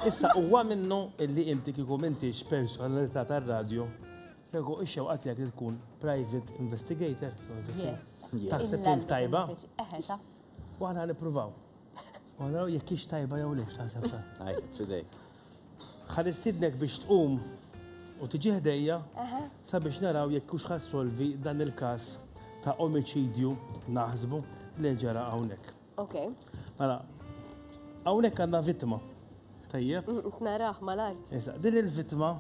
Issa huwa minnu illi inti kieku m'intix personalità tar-radju, kieku x-xewqa tiegħek li tkun private investigator, taħseb int tajba? U aħna nippruvaw. U naraw jekk hix tajba jew le x'taħseb ta. Għajt, fidejk. Ħa nistidnek biex tqum u tiġi ħdejja sabiex naraw jekk hux ħassolvi dan il-każ ta' omiċidju naħsbu li ġara hawnhekk. Ok. Mela, hawnhekk għandna vittma. Tajjeb? Naraħ mal-art. Issa, din il-vittma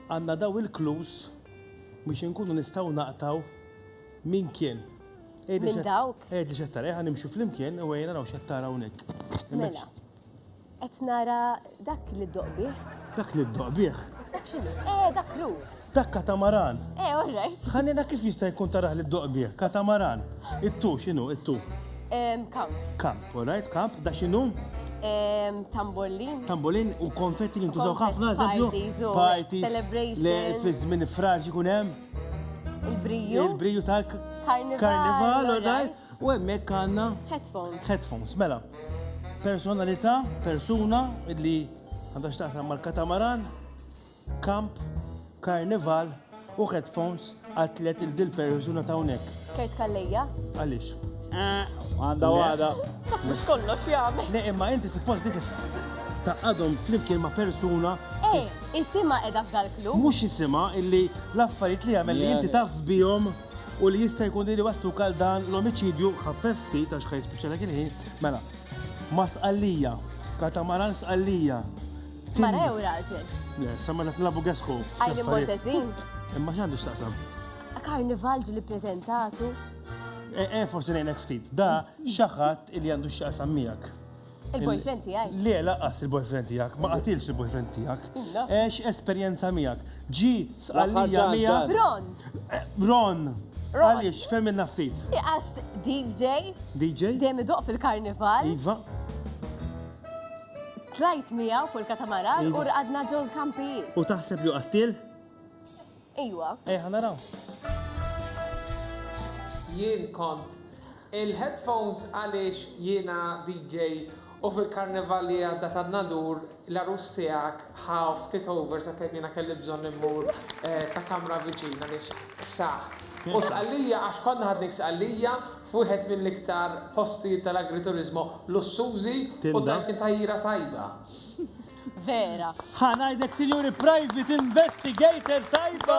għandna daw il-klus biex inkunu nistgħu naqtaw min kien. Min dawk? Edi xettara, eħan nimxu fl-imkien u għajna raw xettara unik. Mela. Qed nara dak li ddoq bih. Dak li ddoq bih? Dak x'inhu? Eh, dak rus. Dak katamaran. Eh, all right. Ħanina kif jista' jkun taraħ li ddoq bih? Katamaran. It-tu x'inhu? It-tu. Kamp. Kamp, all right, kamp. Da x'inhu? Tambolin. Tambolin u konfetti li ntużaw ħafna, eżempju. Parties, celebrations. Fi żmien fraġi kun hemm. Il-briju. Il-briju tal-karnival, all right. U hemmhekk għandna headphones. Headphones, mela. Personalità, persuna li għandha x'taqsam mal-katamaran, kamp, karnival u headphones għatlet il-dil persuna ta' unek. Kert kallija? Għalix? Eh, għanda għada. Mux kollox jgħamil. Ne, imma inti suppost li ta' għadhom flimkien ma' persuna. Ej, isima edha f'dal-klub. Mux isima illi l-affarijiet li għamil li inti taf bijom. u li jista' jkun li wasluk għal dan l-omiċidju ħaffef ftit għax ħaj spiċċalek il-ħin, mela, ma' sqallija, katamaran sqallija. Mara jew raġel? Le, sa mela f'nabu gesħu. Għajli motet din. Imma x'għandu x'taqsam? Karnival ġili prezentatu. E, e, forsi nejnek ftit, da xaħat il-jandu x'taqsam miegħek. Il-boyfriend tiegħi. Le, laqqas il-boyfriend tiegħek, ma qatilx il-boyfriend tiegħek. Għex esperjenza miegħek. Ġi sqallija miegħek. Ron! Eh, Ron! Għaliex, femmilna ftit. Għax DJ. DJ? Dejjem idoq fil-karnival. Iva. Tlajt miegħu fuq il-katamaran u rqadna ġol kampijiet. U taħseb li qattil? Ejwa. Ejja naraw. Jien kont. Il headphones għaliex jiena DJ u fil karnival li għadda ta' Nadur l-għarus tiegħek ħa ftit over sakemm jiena kelli bżonn immur sa kamra viċin għaliex ksaħt. U Sqallija għax konna ħadnik Sqallija f'wieħed mill-iktar postijiet tal-agriturismo lussużi u tajjin tajjira tajba. vera. Ħa ngħidlek sinjuri private investigator tajba!